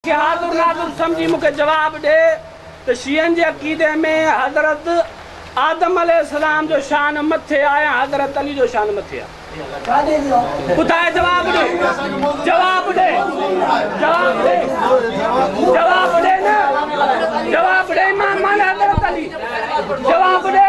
شهادر نادر سمجهي مون کي جواب ڏي ته شيعن جي عقيدي ۾ حضرت آدم عليه السلام جو شان مٿي آهي ۽ حضرت علي جو شان مٿي آهي. ٻڌاء جواب ڏي جواب ڏي جواب ڏي جواب ڏي نه جواب ڏي امام معني حضرت علي جواب ڏي.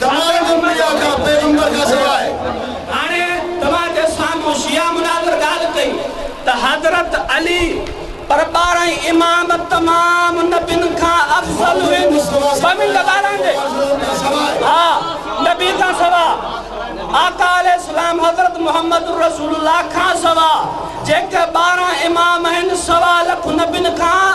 تمام انبياء جا پيغمبر کان سواء. هاڻي توهان جي سامهون شيعا مناظر ڳالهه ڪئي ته حضرت علي پر ٻارهن امام تمام نبين کان افضل هن ٻه منٽ ٻارهن جي ها نبي کان سواء آقا عليه السلام حضرت محمد الرسول الله کان سواء جيڪي ٻارهن امام آهن سوا لک نبين کان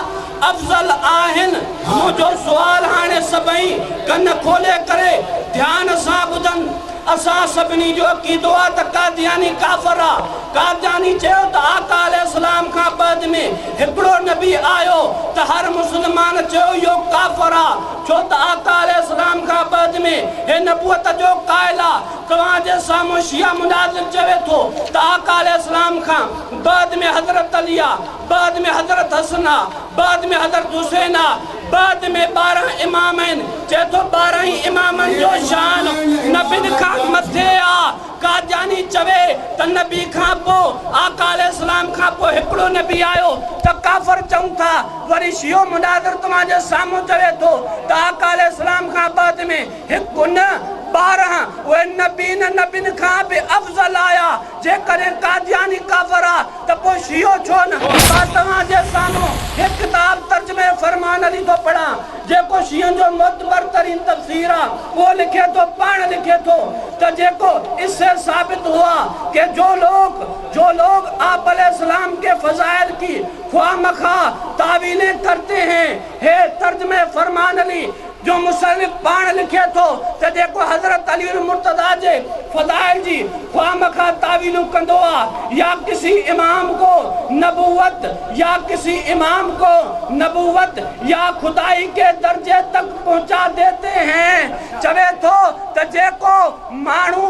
افضل آهن منهنجو سوال هاڻي سڀئي ڪن کولي ڪري ڌيان سان ٻڌن اسان سڀني جو عقيدو آ ته قادياني ڪافر آ قادياني چيو ته آقا عليه السلام کان بعد ۾ هڪڙو نبي آيو ته هر مسلمان چيو اهو ڪافر آ ڇو ته آقا عليه السلام کان بعد ۾ هي نبوت جو قائل آ توهان جي سامهون شيعه مناظر چوي ٿو ته آقا عليه السلام کان بعد ۾ حضرت علي آ بعد ۾ حضرت حسن آ، بعد ۾ حضرت حسين آ، بعد ۾ ٻارهن امام آهن، چئي ٿو ٻارهن ئي امامن جو شان نبين کان مٿي آ، قادياني چوي ته نبي کان پوء آقا عليه السلام کان پوء هڪڙو نبي آيو ته ڪافر چئون ٿا، وري شيعو مناظر توهان جي سامهون چوي ٿو ته آقا عليه السلام کان بعد ۾ هڪ نه ٻارهن اهي نبين نبين کان به افضل آيا، جيڪڏهن قادياني ڪافر آ. ته پوء شيعو ڇو نه؟ مان توهان جي سامهون هڪ ڪتاب ترجمه فرمان علي ٿو پڙهان، جيڪو شيعن جو معتبر ترين تفسير آ. اهو لکي ٿو، پاڻ لکي ٿو ته جيڪو اس سے ثابت هوا ڪي جو لوگ، جو لوگ آپ عليه السلام ڪي فضائل ڪي خواهه مخواهه تاويلين ڪرتي هين، هي ترجمه فرمان علي جو مصنف پاڻ لکي ٿو ته جيڪو حضرت علي المرتضيٰ جي فضائل جي خواهه مخواهه تاويلون ڪندو آ يا ڪسي امام ڪو نبوت يا ڪسي امام ڪو نبوت يا خدائي ڪي درجي تڪ پهچا ديتي هين چوي ٿو ته جيڪو ماڻهو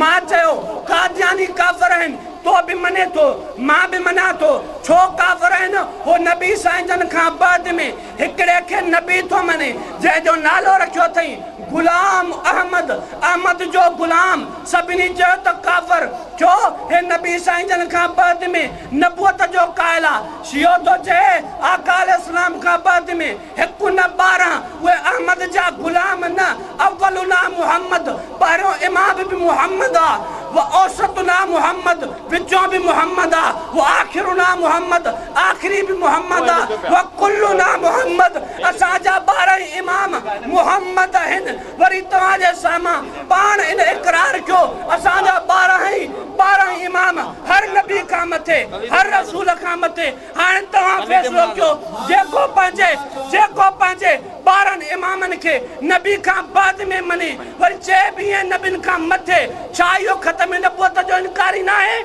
مان چيو، قادياني ڪافر آهن، تو به مڃين ٿو، مان به مڃان ٿو، ڇو ڪافر آهن، هو نبي سائين جن کان بعد ۾ هڪڙي کي نبي ٿو مڃي، جنهن جو نالو رکيو اٿئين غلام احمد، احمد جو غلام، سڀني چيو ته ڪافر، ڇو هي نبي سائين جن کان بعد ۾ نبوت جو قائل آ، شيعو ٿو چئي آقا عليه السلام کان بعد ۾ هڪ نه ٻارهن، اهي احمد جا غلام نه، اولنا محمد، پهريون امام به محمد آ، و اوسطنا محمد، وچون به محمد آ، و آخرنا محمد، آخري به محمد آ، و ڪلنا محمد، اسان جا ٻارهن ئي امام محمد آهن، وري توهان جي سامهان پاڻ ان اقرار ڪيو، اسان جا ٻارهن ئي ٻارهن امام، هر نبي کان مٿي، هر رسول کان مٿي، هاڻ توهان فيصلو ڪيو جيڪو پنهنجي جيڪو پنهنجي ٻارهن امامن کي نبي کان بعد ۾ مڃي وري چئي ويهين نبين کان مٿي ڇا اهو ختم نبوت جو انڪاري ناهي؟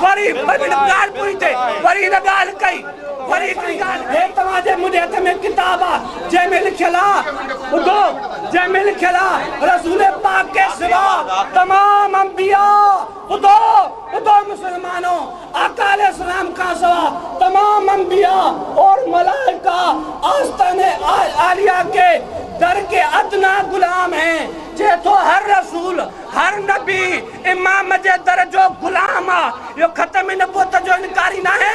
وري ٻن ڳالهپن تي وري هن ڳالهه ڪئي وري هڪڙي ڳالهه ڪئي. هي توهان جي منهنجي هٿ ۾ ڪتاب آ جنهن ۾ لکيل آ ٻڌو جنهن ۾ لکيل آ رسول پاڪ کي سوا تمام انبياء ٻڌو، ٻڌو مسلمانو! آقا عليه السلام کان سوا تمام انبياء اور ملائڪه آستانه عاليه ڪي در ڪي ادنٰي غلام هين، چئي ٿو هر رسول، هر نبي، امام جي در جو غلام آ، اهو ختم نبوت جو انڪاري ناهي.